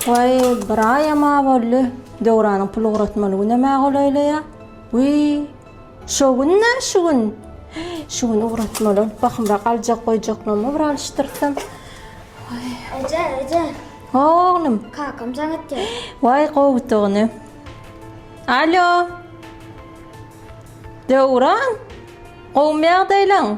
Waý, bir aýam-a boldy, Döwranyň pul ugratmaly günem-ä golaýlaýar. Wiý, şo gün-dä şu gün. Şu gün ugratmaly bolup, bahymrak aljak-goýjaklarymy bir alyşdyrsam. Eje, eje. Oglum. Kakam jaň etýär. Waý, gowudygyny. Alo. Döwran, gowmy ýagdaýlaň?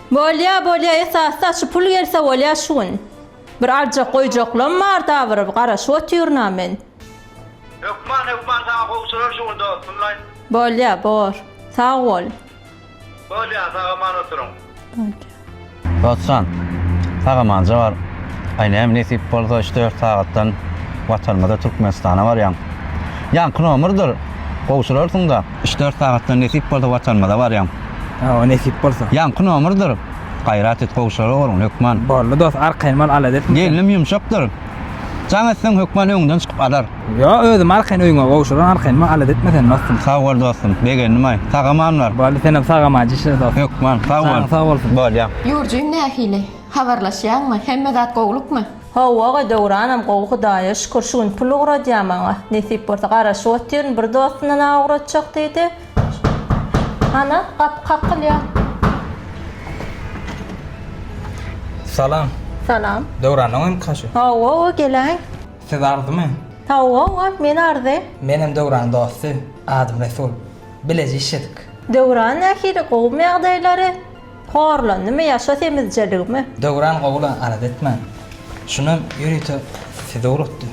Bolýa bolýa esasda şu pul gelse bolýa şu gün. Bir aljak goýjaklam bar dabyryp garaşyp otyrynam men. Hökman hökman saňa gowşurar şu gün dostumlaý. Bolýa bor. Sag bol. Bolýa sag aman oturyň. Bolýa. Dostjan sag amanja bar. Aý näme nesip bolsa üç dört sagatdan watanymyza Türkmenistana barýaň. Ýaňky nomerdir gowşurarsyňda. Üç dört sagatdan nesip bolsa watanymyza barýan. Hawa nesip bolsa. Ýaňky nomerdir. Gaýrat et gowşara oglum hökman. Boldy dos arkaýyn bol alada etme sen. Gelnim ýumşakdyr. Jaň etseň hökman öňünden çykyp alar. Ýo özüm arkaýyn öýüňe gowşuran arkaýyn bol alada etme sen dostum. Sag bol dostum begendimaý. Sagamanlar. Boldy senem sagamaý dişle dos. Hökman sag bol. Janyň sag bolsun. Bolýa. Ýurjym nähili? Habarlaşýaňmy? Hemme zat gowlukmy? How aga Döwranam gowy Hudaýa şükür şu gün pul ugradýa maňa nesip bolsa garaşyp otyryn bir dostuna naý ugratjak diýdi hana gapy kakylýa. Salam. Salam. Döwranyň hem kaşy. Hawa-wa geläý. Siz Arzymy? Hawa-wa men Arzy. Menem Döwranyň dosty. Adym Resul. Bileje işedik. Döwran nähili gowumy ýagdaýlary? Horlandymy ýaşa semizjeligimi. Döwran gowyla alada etmän. Şundan ýörite size ugrukdy.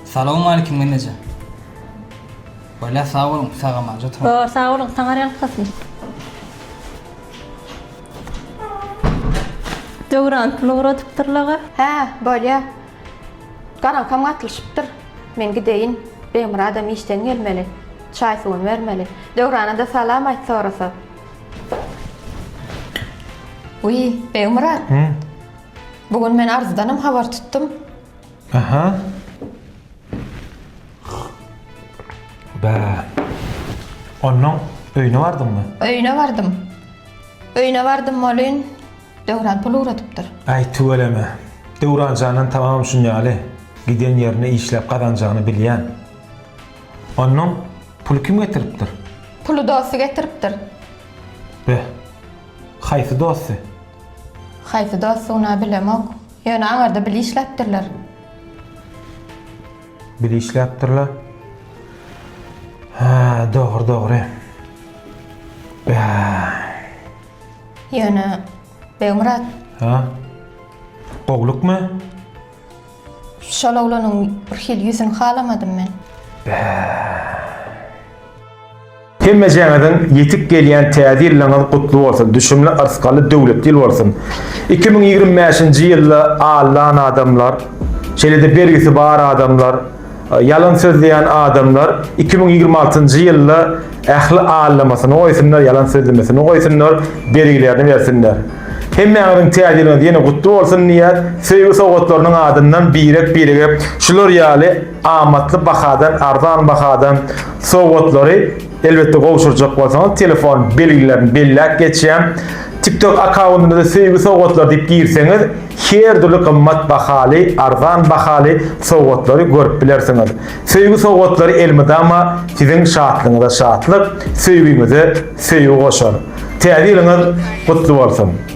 Salowmalikim Memejan. Bolýar sag boluň sagamanja oturyň. Ýo sag boluň taňar ýalkasyn. Döwran pul ugradypdyr laga. Hä bolýar. Garaňkam gatlyşypdyr. Men gideýin. Begmyradam işden gelmeli. Çaý-suwuny bermeli. Döwrana-da salam aýt sorasa. Wiý, Begmyrat. Hä? Bu gün men Arzudanam habar tutdum. Aha. Bä. Onuň öýüne bardyňmy? Öýüne bardym. Öýüne bardym welin, Döwran pul ugradypdyr. Aý tüweleme. Döwranjandan tababam şunýaly. Giden ýerinde işläp gazanjagyny bilýän. Onnoň puly kim getiripdir? Puly dosty getiripdir. Beh. Haýsy dosty? Haýsy dostugyna bilemok. Ýöne aňyrda bile işläpdirler. Bile işläpdirler. Hä, dogry, dogry. Beh. Ýöne Begmyrat. Hä? Goglukmy? Şol oglanyň birhili ýüzüni halamadym men. Bäh. Hemmejaňyzyň ýetip gelýän Täze ýylyňyz gutly bolsun, düşümli, yrsgaly, döwletli ýyl bolsun! Iki müň ýigrimi bäşinji ýylda alnan adamlar, şeýle-de bergisi bar adamlar, Ýalan sözleýän adamlar iki müň ýigrimi altynjy ýylda ähli allamasyny goýsunlar ýalan sözlemesini goýsunlar bergilerini bersinler. Hemmäňiziň täze ýylyňyz ýene gutly bolsun diýýär söýgi sowgatlarynyň adyndan birek birege şular ýaly amatly bahadan arzan bahadan sowgatlary Elbetde gowşurjak bolsaňyz telefon belgilerini belläp geçýän TikTok akkaundyňyza söýgi sowgatlary diýip girseňiz her dürli gymmat bahaly, arzan bahaly sowgatlary görüp bilersiňiz. Söýgi sowgatlary elmydama siziň şatlygyňyza şatlyk, söýgiňize söýgi goşar. Täze ýylyňyz gutly bolsun!